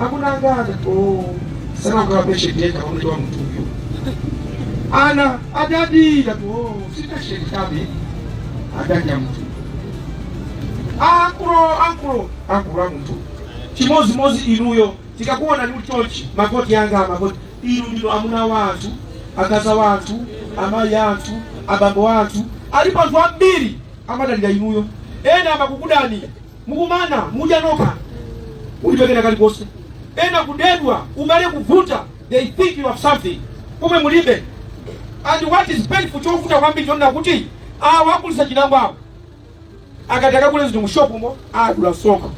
akunangana oh sana kwa peshe teka kwa mtu wa mtu huyo ana adadi ya oh sita shetani adadi ya mtu akulu akulu akulu mtu chimozimozi inuyo tikakuonani chonchi magoti yanga magoti inu ndilo amuna wathu akazi wathu amayi athu abambo athu alipo anthu ambiri amadalira inuyo ena amakukudani mukumana mudya nokha mulibe kena kalikonse ena kudedwa ubale kuvuta they think you have something pomwe mulibe and what is painful chovuta kwambiri chonena kuti awa agulitsa chinangwa awo akati akagule zinthu mushopumo adula msonkho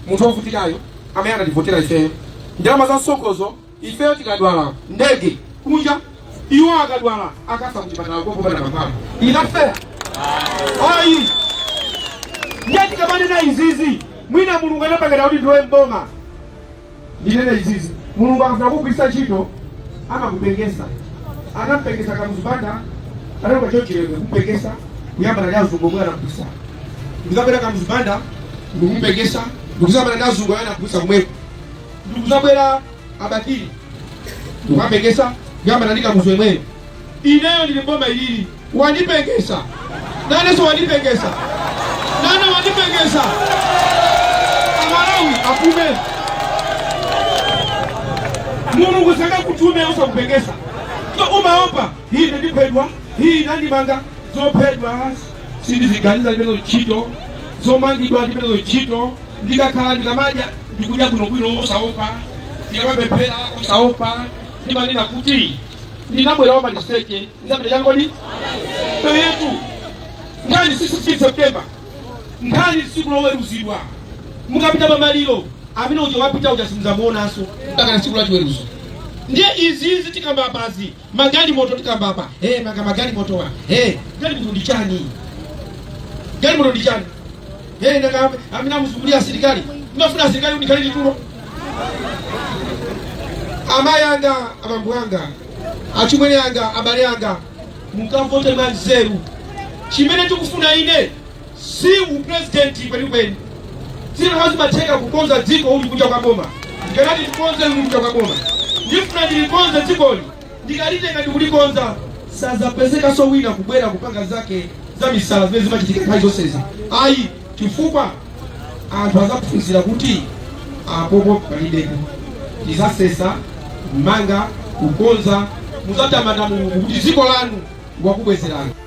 munthu wovutikayo amene anativotera ifeyo ndalama za msonkhozo Ifeyo tikadwala, ndege kunja, iwo akadwala akafa kuchipatala kopopana kamphamvu it's not fair ayi ndiye tikamanena izizi mwina mulungu anapanga dala kuti ndilowe mboma ndinene izizi mulungu akafuna kugwiritsa ntchito amakupengesa anampengesa Kamuzu Banda analoka John Chilembwe kupengesa kuyambana ndi azungu omwe anapisa ndikubwera Kamuzu Banda ndikumupengesa ndikuzayambana ndi azungu amene anapisa kumwepo ndikuzabwera a Bakili ndikuwapengesa kuyambana ndi kamuzu yemweyo ineyo ndili mboma ilili wandipengesa nanenso wandipengesa nane wandipengesa amalawi akumve mulungu sangakutume osakupengesa sumaopa hii ine ndiphedwa hii andimanga zophedwa sindiziganiza ndilibe nazo ntchito zomangidwa ndilibe nazo ntchito ndikakhala ndikamadya ndikudya bwinobwino osaopa ndikamapemphera osaopa ndimanena kuti ndinabwera wamaliseche ndizapita changodi ndiyetu nkhani si 16 september nkhani tsiku loweruzidwa mukapita pamaliro amene uja wapita uja simudzamuonanso mpaka na tsiku la chiweruzo ndiye izizi tikamba apazi magalimoto tikamba apa hey, nanga magalimotowa hey, galimoto ndi chani galimoto ndi chani hey, nanga amene amuzungulira asilikali ndinafuna asilikali ndikhale nditulo amayi anga abambo anga achimwene anga abale anga mukavote mwanzeru chimene tikufuna ine si upresidenti kwenikweni zinakakhala zimatheka kukonza dziko uli kunja kwa boma ndikanati tikonze uli kunja kwa boma ndifuna ndilikonze dzikoli ndikalitenga ndikulikonza sazapezekanso wina kubwera kupanga zake za misala zimene zimachitika nthawi zonsezi ayi chifukwa anthu azaphunzira kuti apopo palibepo tizasesa kumanga kukonza muzatamanda mulungu kuti dziko lanu wakubwezerani